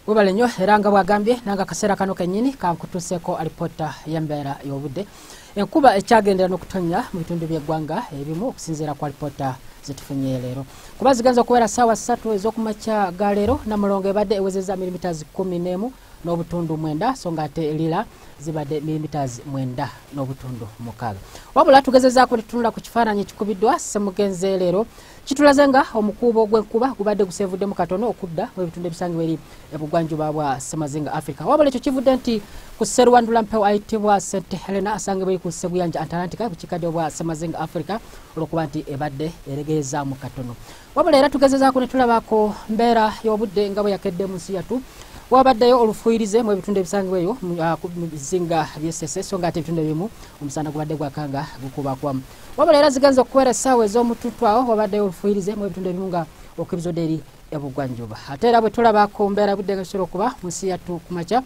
webale nnyo era nga bwagambye nanga akaseera kano kenyini kankutuseeko alipoota yembeera y'obudde enkuba ekyagendera n'okutonnya mu bitundu by'eggwanga ebimu okusinziira ku alipoota zetufunye leero kuba zigenza okubeera saawa ssatu ez'okumakya ga leero namulongo ebadde ewezeza mirimita zikumi n'emu n'obutundu mwenda so nga ate lila zibadde milimiters mwenda n'obutundu mukaaga wabula tugezezaako tutunula ku kifaananyi ekikubiddwa semugenze leero kitulaze nga omukuubo gw'enkuba gubadde guseevuddemu katono okudda mu ebitundu ebisangibwa eri ebugwanjuba bwa semazinga africa wabula ekyo kivudde nti ku sserwandula mpewo ayitibwa st helena asangibwa eri ku sseguyanja antalantika ku kikadde obwa semazinga africa olwokuba nti ebadde eregeeza mu katono wabula era tugezezaako ne tulabako mbeera y'obudde nga bwe yakedde mu nsi yattu wabaddeyo olufuyirize mu ebitundu ebisangibwa eyo mu ah, bizinga byesese so nga ate ebitundu ebimu omusana gubadde gwakanga gukubakwamu wabula era zigenza okubeera essaawa ez'omututtu awo wabaddeyo olufuyirize mu ebitundu ebimu nga okwebizoda eri ebugwanjuba ate era bwe tulaba ku mbeera budde nga kisobola okuba mu nsi yattu ku makya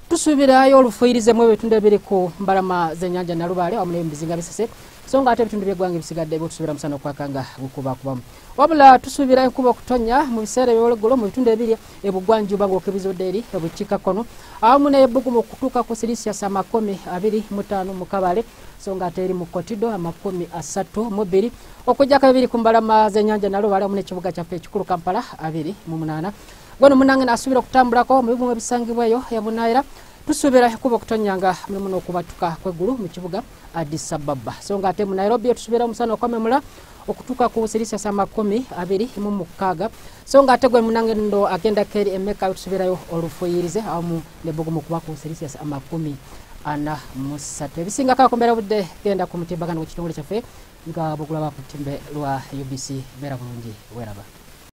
tusuubirayo olufuyirize mu ebitundu ebiri ku mbalama z'ennyanja nalubaale wamu n'ebizinga bisese so nga ate ebitundu byeggwanga ebisigadde byotusubira musana okwakanga gukubakubamu wabula tusuubira enkuba okutonya mu biseera ebyologgulo mu bitundu ebiri ebugwanjuba ng'okebizudde eri ebukiikakkono awamu neyebugumu okutuuka ku silisias amakumi abiri mu taano mu kabale so nga ate eri mu kotido amakumi asatu mu bbiri okujjako ebiri ku mbalama z'enyanja nalo balamu n'ekibuga kyaffe ekikulu kampala abiri mu munaana gweno munange naasuubira okutambulako mu bibumu ebisangibwaeyo ebunaayira tusuubira ekuba okutonyanga mulimu n'okubatuka kw'eggulu mu kibuga Addis Ababa so nga ate mu Nairobi etusuubira omusana okwamemula okutuuka ku selisiyasi amakumi abiri mu mukaaga so nga ate gwe munangendo agenda keri emeka etusuubirayo olufuyirize awamu ne bugumu kuba ku selisiyasi amakumi ana musatu ebisingako akombera budde genda ku mutimbagano gw'ekitongole kyaffe nga bugulaba ku timbe lwa UBC beera bulungi weraba